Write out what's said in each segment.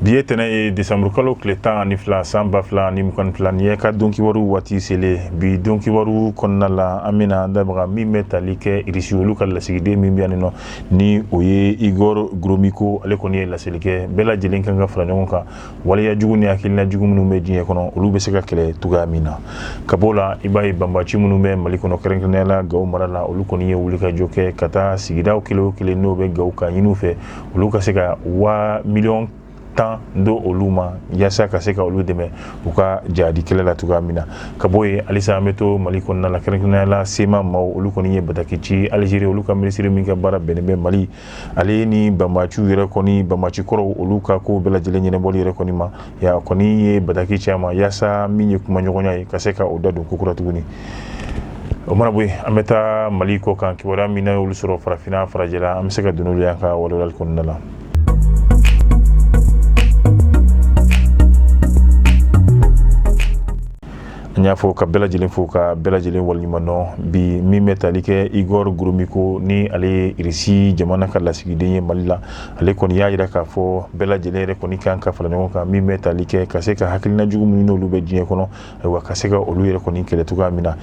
bi ye tɛnɛ ye desanburukalo kile tan ani fila san ba fila ani mugan ni fila ni ye ka don kibaru waati sele bi don kibaru kɔnɔna la an bɛna an da maga min bɛ tali kɛ irisi olu ka lasigiden min bɛ yan nɔ ni o ye igor gromiko ale kɔni ye laseli kɛ bɛɛ lajɛlen kan ka fara ɲɔgɔn kan waleya jugu ni hakilina jugu minnu bɛ diɲɛ kɔnɔ olu bɛ se ka kɛlɛ cogoya min na ka b'o la i b'a ye banbaci minnu bɛ mali kɔnɔ kɛrɛnkɛrɛnnenya la gawo mara la olu kɔni ye wulikajɔ kɛ ka taa sigidaw kelen o kelen n'o bɛ gawo k'a ɲini u fɛ olu ka se ka waa miliyɔn tan d'olu ma yaasa ka se ka olu dɛmɛ u ka jadi kɛlɛ la cogoya min na ka bɔ yen halisa an bɛ to mali kɔnɔna la kɛrɛnkɛrɛnnenya la sema maaw olu kɔni ye bataki ci alizeri olu ka minisiri min ka baara bɛnnen bɛ mali ale ni banbaciw yɛrɛ kɔni banbaci kɔrɔw olu ka ko bɛɛ lajɛlen ɲɛnabɔli yɛrɛ kɔni ma ya kɔni ye bataki ci a ma yaasa min ye kumaɲɔgɔnya ye ka se ka o da don kokura tuguni o mana bɔ yen an bɛ taa mali kɔkan kibaruya min n'an y'olu sɔrɔ farafinna farajɛla an bɛ se ka don n'olu y'an ka walawalali kɔnɔna la n y'aw fo ka bɛɛ lajɛlen fo ka bɛɛ lajɛlen waleɲumandɔn bi min bɛ tali kɛ igor goromiko ni ale ye irisi jamana ka lasigiden ye mali la ale kɔni y'a jira k'a fɔ bɛɛ lajɛlen yɛrɛ kɔni kan ka fara ɲɔgɔn kan min bɛ tali kɛ ka se ka hakilina jugu minnu n'olu bɛ diɲɛ kɔnɔ ayiwa ka se ka olu yɛrɛ kɔni kɛlɛ cogoya min na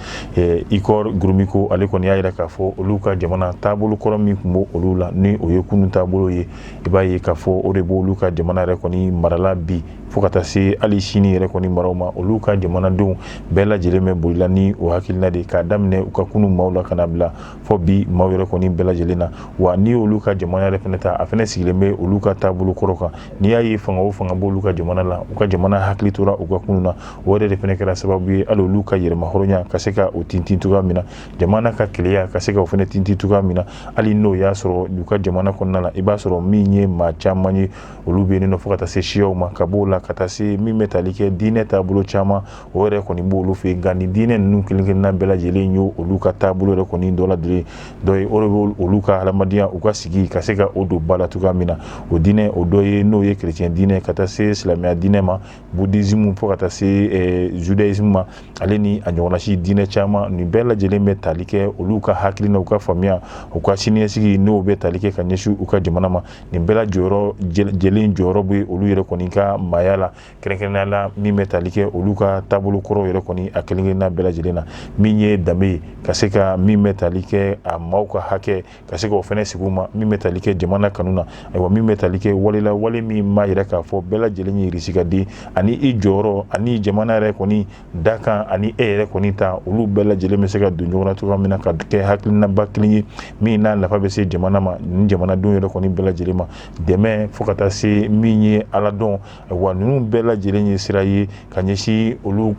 igor goromiko ale kɔni y'a jira k'a fɔ olu ka jamana taabolo kɔrɔ min tun b'olu la ni o ye kunun taabolo ye i b'a ye k'a fɔ o de b'olu ka jamana yɛrɛ kɔni mara la bi fo ka taa se hali sini yɛrɛ kɔni maraw ma olu ka jamanadenw bɛɛ lajɛlen bɛ boli la ni o hakilina de k'a daminɛ u ka kunun maaw la ka na bila fo bi maaw yɛrɛ kɔni bɛɛ lajɛlen na wa ni olu ka jamana yɛrɛ fɛnɛ ta a fɛnɛ sigilen bɛ olu ka taabolo kɔrɔ kan n'i y'a ye fanga o fanga b'olu ka jamana la u ka jamana hakili tora u ka kunun na o yɛrɛ de fɛnɛ kɛra sababu ye hali olu ka yɛrɛmahɔrɔnya ka se ka o tintin cogoya min na jamana ka kelenya ka se ka o fɛnɛ tintin cogoya min na hali n'o y'a sɔrɔ u ka jamana kɔnɔna la i b'a sɔrɔ min ye maa caman ye olu bɛ yen nɔ fo ka taa se siyaw ma ka b'o la ka taa se min bɛ tali kɛ diinɛ taabolo caman o yɛrɛ kɔni b'olu fɛ yen nka nin diinɛ ninnu kelen kelenna bɛɛ lajɛlen ye olu ka taabolo yɛrɛ kɔni dɔ ladire dɔ ye o de bɛ olu ka hadamadenya u ka sigi ka se ka o don ba la cogoya min na o diinɛ o dɔ ye n'o ye kerecɛn diinɛ ka taa se silamɛya diinɛ ma budizimu fo ka taa se eh, judaisme ma ale ni a ɲɔgɔnnasi diinɛ caman nin bɛɛ lajɛlen bɛ tali kɛ olu ka hakilina u ka faamuya u ka siniɲɛsigi n'o bɛ tali kɛ ka ɲɛsin u ka jamana ma nin bɛɛ la jɔyɔrɔ jɛlen jɔyɔrɔ bɛ olu yɛrɛ kɔni ka maaya la kɛrɛnkɛrɛnnenya la min bɛ tali kɛ olu ka taabolo kɔrɔw yɛrɛ kɔni a kelenkelenna bɛɛ lajɛlen na min ye danbe ye ka se ka min bɛ tali kɛ a maaw ka hakɛ ka se ka o fɛnɛ sigi ma min bɛ tali kɛ jamana kanu na ayiwa min bɛ tali kɛ wale o wale min b'a yira k'a fɔ bɛɛ lajɛlen ye irisi ka den ani i jɔyɔrɔ ani jamana yɛrɛ kɔni da kan ani e yɛrɛ kɔni ta olu bɛɛ lajɛlen bɛ se ka don ɲɔgɔn na cogoya min na ka kɛ hakilinaba kelen ye min n'a nafa bɛ se jamana ma ni jamanadenw yɛrɛ kɔni bɛɛ lajɛlen ma dɛmɛ fo ka taa se min ye ala dɔn wa ninnu bɛɛ lajɛlen ye sira ye ka ɲɛsin olu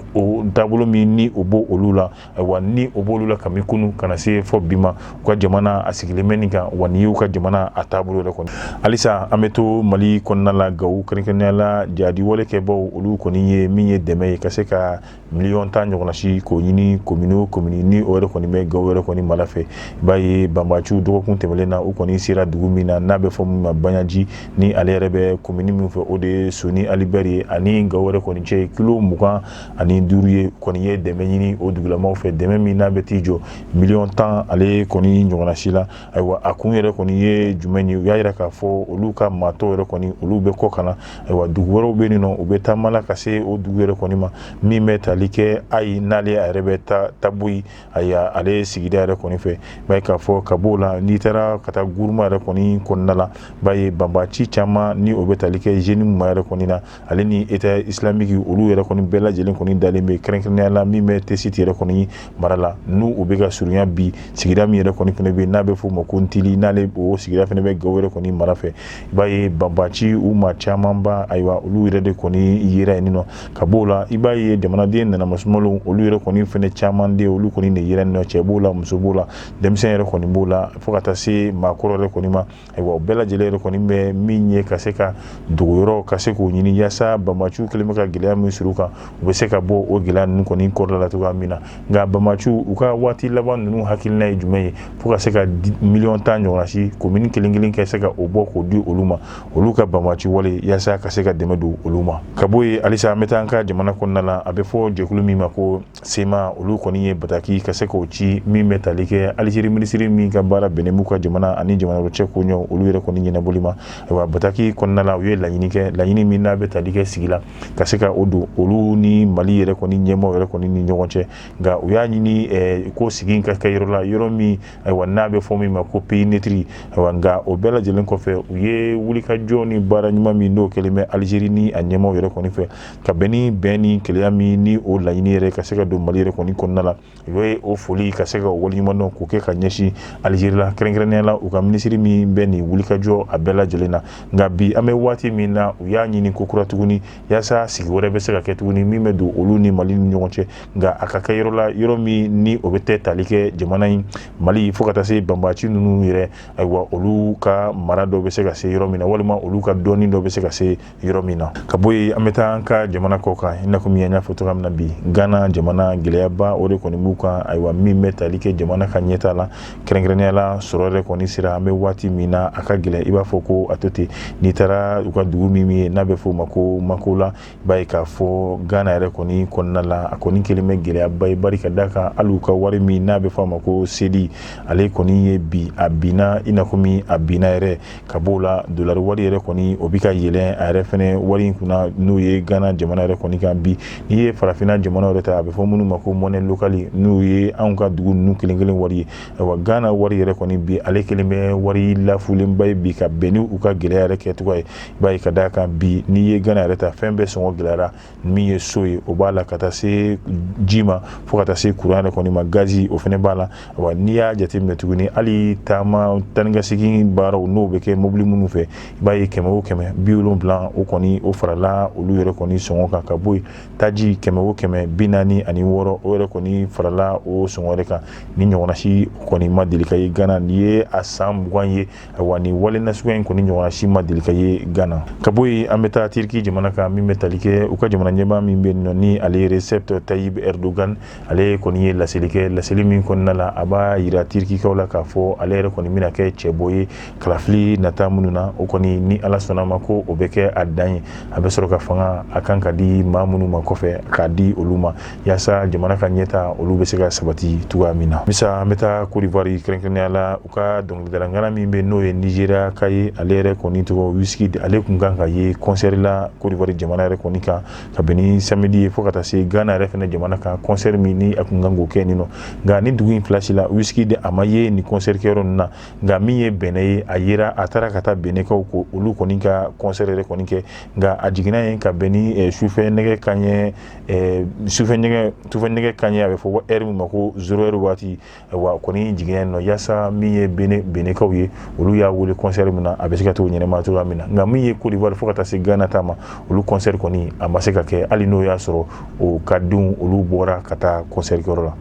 taabolo min ni o b'olu la wa ni o b'olu la kabini kunun ka na se fo bi ma u ka jamana a sigilen bɛ nin kan wa nin y'u ka jamana a taabolo yɛrɛ kɔni halisa an bɛ to mali kɔnɔna la gawo kɛrɛnkɛrɛnnenya la jaadiwale kɛbaaw olu kɔni ye min ye dɛmɛ ye ka se ka miliyɔn tan ɲɔgɔnna si k'o ɲini komini o komini ni o yɛrɛ kɔni bɛ gawo yɛrɛ kɔni mara fɛ i b'a ye banbaciw dɔgɔkun tɛmɛnen na u kɔni sera dugu min na n'a bɛ fɔ min ma banyaji ni ale yɛrɛ bɛ komini min fɛ o de ye soni alibɛri ye ani gawo yɛrɛ kɔni cɛ ye kilo mugan ani duuru ye kɔni ye dɛmɛ ɲini o dugulamaw fɛ dɛmɛ min n'a bɛ t'i jɔ miliyɔn tan ale kɔni ɲɔgɔnna si la ayiwa a kun yɛrɛ kɔni ye jumɛn ye u y'a jira k'a fɔ olu ka maa tɔw yɛrɛ kɔni olu bɛ kɔ ka na ayiwa dugu wɛrɛw bɛ yen nɔ u bɛ taama la ka se o dugu yɛrɛ kɔni ma min bɛ tali kɛ ayi n'ale a yɛrɛ bɛ taboyi ayiwa ale sigida yɛrɛ kɔni fɛ i b'a ye k'a fɔ ka b'o la n'i taara ka taa guruma yɛrɛ kɔni kɔnɔna la i b'a ye banbaci caman ni o bɛ tali kɛ zenimu yɛrɛ kɔni na ale ni eta isilamiki olu yɛrɛ kɔni bɛɛ lajɛlen kɔni dalen bɛ kɛrɛnkɛrɛnnenya la min bɛ tɛsiti yɛrɛ kɔni mara la n' u bɛ ka surunya bi sigida min yɛrɛ kɔni fana bɛ n'a bɛ f'o ma ko ntili n'ale o sigida fana bɛ gawo yɛrɛ kɔni mara fɛ i b'a ye banbaci u maa camanba ayiwa olu yɛrɛ de kɔni yera yen nɔ ka b'o la i b'a ye jamanaden nanamasumalenw olu yɛrɛ kɔni fana caman de olu kɔni de yera yen nɔ cɛ b'o la muso b'o la denmisɛnnin yɛrɛ kɔni b'o la fo ka taa se maakɔrɔ yɛrɛ kɔni ma Ayiwa o bɛɛ lajɛlen yɛrɛ kɔni bɛ min ye ka se ka dogoyɔrɔ ka se k'o ɲini yaasa banbaciw kɛlen bɛ ka gɛlɛya min suuru u kan u bɛ se ka bɔ o gɛlɛya ninnu kɔni kɔrɔla la cogoya min na nka banbaciw u ka waati laban ninnu hakilina ye jumɛn ye fo ka se ka miliyɔn tan ɲɔgɔnna si komini kelen kelen ka se ka o bɔ k'o di olu ma olu ka banbaci wale yaasa ka se ka dɛmɛ don olu ma ka bɔ yen halisa an bɛ taa an ka jamana kɔnɔna la a bɛ fɔ jɛkulu min ma ko sema olu kɔni ye bataki ka se k'o ci min bɛ tali kɛ alizeri minisiri min ka baara bɛnnen b'u ka jamana ani jamana wɛrɛ cɛ koɲɛ olu yɛrɛ kɔni ɲɛnabɔli ma ayiwa bataki kɔnɔna la u ye laɲini kɛ laɲini min n'a bɛ tali kɛ sigi la ka se ka o don olu ni mali yɛrɛ kɔni ɲɛmaaw yɛrɛ kɔni ni ɲɔgɔn cɛ nka u y'a ɲini eh, ko sigi ka kɛ yɔrɔ la yɔrɔ min ayiwa n'a bɛ fɔ min ma ko peyi netiri ayiwa nka o bɛɛ lajɛlen kɔfɛ u ye wulikajɔ ni baara ɲuman min n'o kɛlen bɛ alizeri ni a ɲɛmaaw yɛrɛ kɔni fɛ ka bɛn ni bɛn ni kelenya min ni o laɲini yɛrɛ ka se ka don mali yɛrɛ kɔni kɔnɔna la u ye o foli ka se ka waleɲumandɔn k'o kɛ ka ɲɛsin alizeri la kɛrɛnkɛrɛnnenya la u ka minisiri min bɛ nin wulikajɔ a bɛɛ lajɛlen na nka bi an bɛ waati min na u y'a ɲini kokura tuguni yaasa sigi wɛrɛ bɛ se ka kɛ tuguni min bɛ don olu ni mali ni ɲɔgɔn cɛ nka a ka kɛ yɔrɔ la yɔrɔ min ni o bɛ tɛ tali kɛ jamana in mali fo ka taa se banbaci ninnu yɛrɛ ayiwa olu ka mara dɔ bɛ se ka se yɔrɔ min na walima olu ka dɔɔni dɔ bɛ se ka se yɔrɔ min na ka bɔ yen an bɛ taa an ka jamana kɔ kan i n'a fɔ min y'a fɔ cogoya min na bi ghana jamana gɛlɛyaba o de kɔni b'u kan ayiwa min bɛ tali kɛ jamana ka ɲɛtaa la kɛrɛnkɛrɛnnenya la sɔrɔ yɛrɛ kɔni sera an bɛ waati min na a ka gɛlɛn i b'a fɔ ko a to ten n'i taara u ka dugu min ye n'a bɛ fɔ o ma ko makola i b'a ye k'a fɔ ghana yɛrɛ kɔni kɔnɔna la a kɔni kelen bɛ gɛlɛyaba ye bari ka d'a kan hali u ka wari min n'a bɛ fɔ a ma ko sedi ale kɔni ye bi a binna i n'a fɔ min a binna yɛrɛ ka bɔ o la dolari wari yɛrɛ kɔni o bɛ ka yɛlɛn a yɛrɛ fɛnɛ wari in kunna n'o ye gana jamana yɛrɛ kɔni kan bi n'i ye farafinna jamana yɛrɛ ta a bɛ fɔ minnu ma ko mɔnɛ lokali n'o ye anw ka dugu ninnu kelen kelen wari ye wa gana wari yɛrɛ kɔni bi ale kelen bɛ wari lafulenba ye bi ka bɛn ni u ka gɛlɛya yɛrɛ kɛcogo ye i b'a ye ka d'a kan bi n'i ye gana yɛrɛ ta fɛn bɛɛ sɔngɔ gɛlɛyara min ye so ye o b'a la ka taa se ji ma fo ka taa se kuran yɛrɛ kɔni ma gazi o fɛnɛ b'a la wa n'i y'a jateminɛ tuguni hali taama taa ni ka segin baaraw n'o bɛ kɛ mobili minnu fɛ i b'a ye kɛmɛ o kɛmɛ bi wolonwula o kɔni o farala olu yɛrɛ kɔni sɔngɔ kan ka bɔ yen taji kɛmɛ o kɛmɛ bi naani ani wɔɔrɔ o yɛrɛ kɔni farala o sɔngɔ yɛrɛ kan nin ɲɔgɔnna si kɔni ma deli ka ye gana nin ye a san mugan ye wa nin wale nasuguya in kɔni ɲɔgɔnna si ma deli ka ye gana ka bɔ yen an bɛ taa tiriki jamana kan min bɛ tali kɛ u ka jamana ɲɛmaa min bɛ nɔ ni ale recep tayyip erdogan ale kɔni ye laseli kɛ laseli min kɔnɔna la a b'a yira tirikikaw la k'a fɔ ale yɛrɛ kɔni bɛna kɛ cɛbɔ ye kalafili nata minnu na o kɔni ni ala sɔnn'a ma ko o bɛ kɛ a dan ye a bɛ sɔrɔ ka fanga a kan ka di maa minnu ma kɔfɛ k'a di olu ma yaasa jamana ka ɲɛtaa olu bɛ se ka sabati cogoya min na sisan an bɛ taa kodiwari kɛrɛnkɛrɛnnenya la u ka dɔnkilidalangana min bɛ n'o ye nizeriya ka ye ale yɛrɛ kɔni tɔgɔ wizkid ale kun kan ka ye kɔnsɛri la kodiwari jamana yɛrɛ kɔni kan ka bɛn ni samedi ye fo ka taa se gana yɛrɛ fɛnɛ jamana kan kɔnsɛri min ni a kun kan k'o kɛ nin nɔ nka nin dugu in fila si la wizkid a ma ye nin kɔnsɛri kɛyɔrɔ ninnu na nka min ye benɛn ye a yera a taara ka taa benɛnkaw ko olu kɔni ka kɔnsɛri yɛrɛ kɔni kɛ nka a jiginna yen ka bɛn ni eh, sufɛ nɛgɛ kanɲɛ Eh, sufɛ nɛgɛ sufɛ nɛgɛ kanɲɛ a bɛ fɔ ko ɛri min ma ko zero ɛri waati eh, wa kɔni jiginna yen nɔ yaasa min ye benɛn benɛnkaw ye olu y'a wele kɔnsɛri min na a bɛ se ka t'o ɲɛnɛma cogoya min na nka min ye kodiwari fo ka taa se gana ta ma olu kɔnsɛri kɔni a ma se ka kɛ hali n'o y'a sɔrɔ o ka denw olu bɔra ka taa kɔnsɛri kɛyɔrɔ la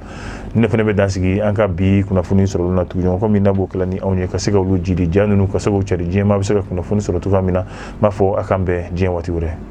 ne fɛnɛ bɛ dan sigi an ka bi kunnafoni sɔrɔli na tugun kɔmi n'a b'o kɛla ni anw ye ka se ka olu jidi ja ninnu ka se k'o cari diɲɛmaa bɛ se ka kunnafoni sɔrɔ cogoya min na n b'a fɔ a k'an bɛn diɲɛ waati wɛrɛ